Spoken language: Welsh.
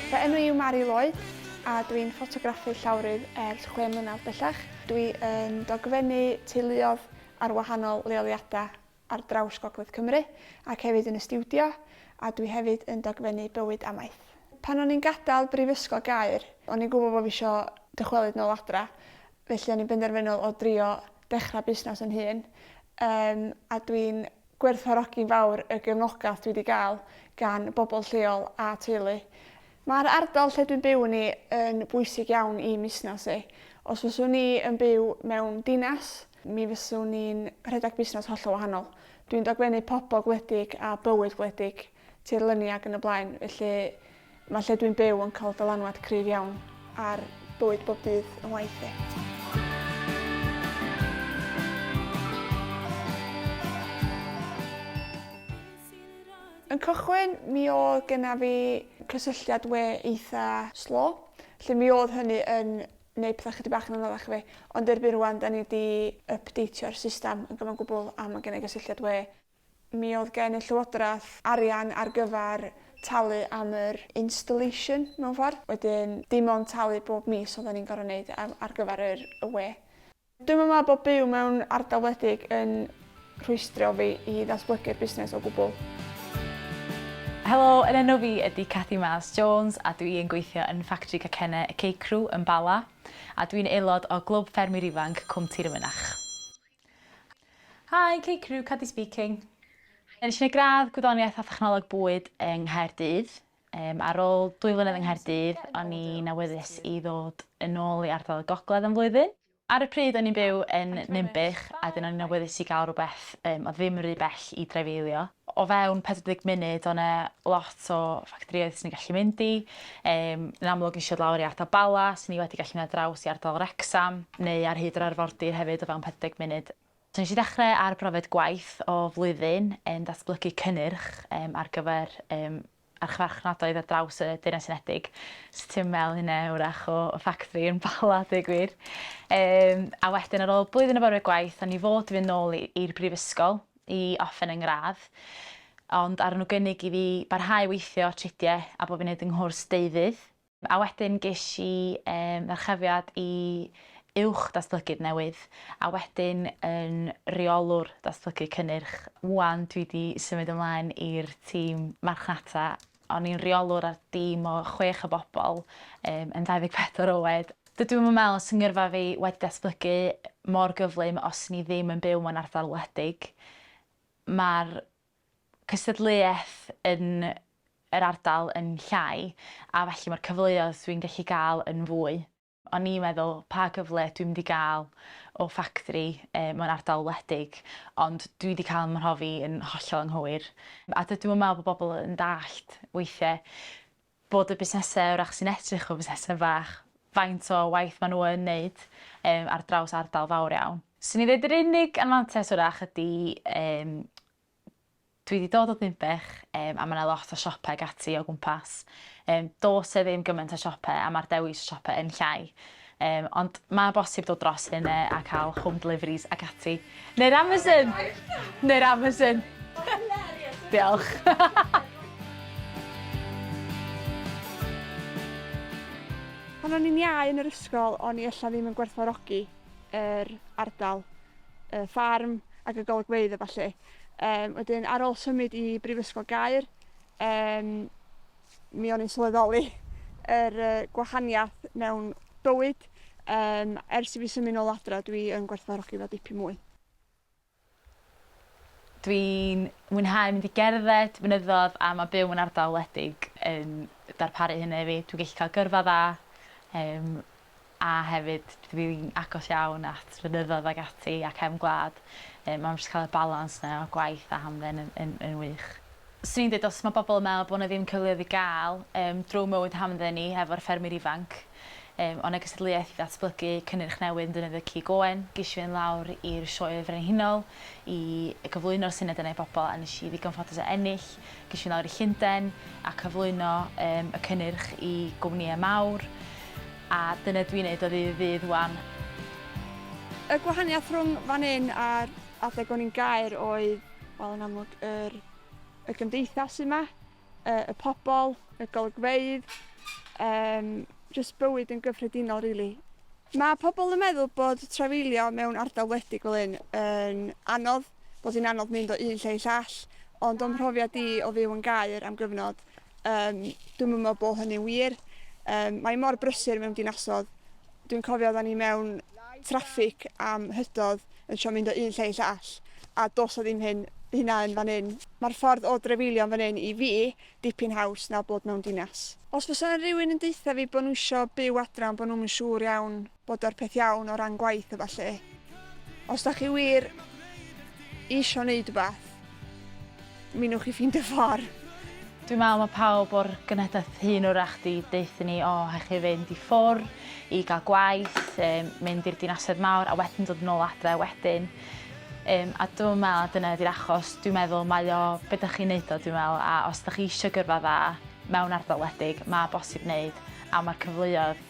Fy enw yw Mari Lloyd a dwi'n ffotograffu llawrydd ers chwe mlynedd bellach. Dwi yn dogfennu teuluodd ar wahanol leoliadau ar draws Gogledd Cymru ac hefyd yn y stiwdio, a dwi hefyd yn dogfennu bywyd amaeth. Pan o'n i'n gadael Brifysgol Gaer, o'n i'n gwybod bod fi isio dychwelyd nôl adra, felly o'n i'n benderfynol o drio dechrau busnes yn hun, um, a dwi'n gwerthfawrogi'n fawr y gefnogaeth dwi wedi gael gan bobl lleol a teulu. Mae'r ardal lle dwi'n byw ni yn bwysig iawn i musnes i. Os fyswn ni yn byw mewn dinas, mi fyswn ni'n rhedeg busnes hollol wahanol. Dwi'n dogfennu pobl gwledig a bywyd gwledig, tirlyni ac yn y blaen, felly mae lle dwi'n byw yn cael dylanwad cryf iawn ar bywyd bob dydd yn waith i. Yn cychwyn, mi oedd genna fi cysylltiad we eitha' slo, lle mi oedd hynny yn neu pethau chydig bach yn anoddach i fi, ond erbyn rwan da ni di ypdeitio'r system yn gyfan gwbl a mae gen i gysylltiad we. Mi oedd gen y llywodraeth arian ar gyfer talu am yr installation mewn ffordd, wedyn dim ond talu bob mis oedden ni'n gorfod neud ar gyfer yr y we. Dwi'm yn meddwl bod byw mewn ardal wledig yn rhwystrio fi i ddatblygu'r busnes o gwbl. Helo, yn enw fi ydi Cathy Miles Jones a dwi yn gweithio yn ffactri cacenne y Cecrw yn Bala a dwi'n aelod o Glwb Ffermwyr Ifanc Cwm Tir y Mynach. Hi, Cecrw, Cathy speaking. Nes i neud gradd Gwyddoniaeth a Thechnoleg Bwyd yng Nghaerdydd. Yym, ar ôl dwy flynedd yng Nghaerdydd, o'n i'n awyddus i ddod yn ôl i ardal y Gogledd am flwyddyn. Ar y pryd, o'n i'n byw yn Ninbych, a 'dyn o'n i'n awyddus i gael rhywbeth yym, oedd ddim rhy bell i dreifeilio. O fewn 40 munud, o' 'na lot o ffactorïoedd swn i'n gallu mynd i. Yym, yn amlwg nes i ddod lawr i ardal Bala, swn i wedi gallu mynd ar draws i ardal Wrecsam, neu ar hyd yr arfordir hefyd o fewn 40 munud. Nes i ddechrau ar brofiad gwaith o flwyddyn yn datblygu cynnyrch ar gyfer archfarchnadoedd ar draws y Deyrnas Unedig, so ti yn meddwl hynna wrach o ffactri yn Bala a dweud gwir. A wedyn ar ôl blwyddyn o brofiad gwaith o'n i fod i fynd nôl i'r brifysgol i orffen 'y ngradd, ond aru nhw gynnig i fi barhau weithio tridiau a bod fi'n neud 'y nghwrs deuddydd. A wedyn ges i ddyrchafiad i Uwch Datblygydd Newydd, a wedyn yn Rheolwr Datblygu Cynnyrch. Ŵan dwi 'di symud ymlaen i'r tîm marchnata. O'n i'n Rheolwr ar dîm o chwech o bobl yn 24 oed. Dydw i'm yn meddwl os 'y ngyrfa fi wedi datblygu mor gyflym os 'yn ni ddim yn byw mewn ardal wledig. Mae'r cystadleuaeth yn yr ardal yn llai a felly mae'r cyfleoedd dwi'n gallu gael yn fwy. O'n i'n meddwl pa gyfle dwi'n mynd i gael o ffactri mewn ardal wledig ond dwi 'di cael 'y mhrofi yn hollol anghywir a dydw i'm yn meddwl bod pobl yn dallt weithiau bod y busnesau wrach sy'n edrych fel busnesau bach, faint o waith maen nhw yn wneud ar draws ardal fawr iawn. 'Swn i'n dweud yr unig anfantais wrach ydy yym dwi 'di dod o Ddinbych yym a mae 'na lot o siopau ac ati o gwmpas. Yym does 'na ddim gymaint o siopau a mae'r dewis o siopau yn llai. Yym, ond ma' bosib dod dros hyn yy a ca'l home deliveries ac ati. Neu'r Amazon! Neu'r Amazon! Diolch! Pan o'n i'n iau yn yr ysgol o'n i ella ddim yn gwerthfawrogi yr ardal, y ffarm ac y golygfeydd a ballu. Yym wedyn ar ôl symud i Brifysgol Gaer yym mi o'n i'n sylweddoli yr yy gwahaniath mewn bywyd yym ers i fi symud nôl adre dwi yn gwerthfawrogi fo dipyn mwy. Dwi'n mwynhau mynd i gerdded, mynyddodd a ma' byw mewn ardal wledig yn darparu hynna i fi. Dwi'n gellu ca'l gyrfa dda yym a hefyd dwi'n agos iawn at fynyddoedd ag ati a cefn gwlad yym a ma' jyst ca'l y balans 'ne o gwaith a hamdden yn yn yn wych. Swn i'n deud os ma' bobol yn me'wl bo' 'na ddim cyfleodd i ga'l yym drw mywyd hamdden ni efo'r ffermwyr ifanc yym o' 'na gystadleuaeth i ddatblygu cynnyrch newydd yn defnyddio cig oen, gesh i fynd lawr i'r Sioe Frenhinol i gyflwyno'r syniad yna i bobol a nesh i ddigon ffodus o ennill Ges i lawr i Llundain a cyflwyno yym y cynnyrch i gwmnïau mawr, a dyna dwi'n neud o ddydd i ddydd ŵan. Y gwahaniath rhwng fan hyn a'r adeg o'n i'n Gaer oedd, wel yn amlwg yr y gymdeithas sy' 'ma, y y pobl, y golygfeydd, yym jyst bywyd yn gyffredinol rili. Ma' pobl yn meddwl bod trafeilio mewn ardal wledig fel hyn yn anodd, bod hi'n anodd mynd o un lle i llall, ond o'm mhrofiad i o fyw yn Gaer am gyfnod, um, dwi'm yn meddwl bod hynny'n wir. Um, mae mor brysur mewn dinasodd. Dwi'n cofio oedden ni mewn traffig am hydodd yn sio mynd o un lle i llall, a dos o ddim hyn hynna yn fan hyn. Mae'r ffordd o drefeilio fan hyn i fi dipyn haws na bod mewn dinas. Os fysa rhywun yn deutha fi bod nhw eisiau byw adra ond bod nhw'm yn siŵr iawn bod o'r peth iawn o ran gwaith a ballu. Os da chi wir isio neud wbath, mi newch chi ffeindio ffor. Dwi'n me'wl ma' pawb o'r genhedlaeth hŷn 'w'rach 'di deuthu ni o rhaid chi fynd i ffwr i ga'l gwaith, yym mynd i'r dinasoedd mawr a wedyn dod yn ôl adre wedyn. Yym a dwi'm yn me'wl dyna ydi'r achos, dwi'n meddwl mae o be' dych chi'n neud o dwi'n me'wl a os dych chi isio gyrfa dda mewn ardal wledig ma' bosib neud a ma'r cyfleodd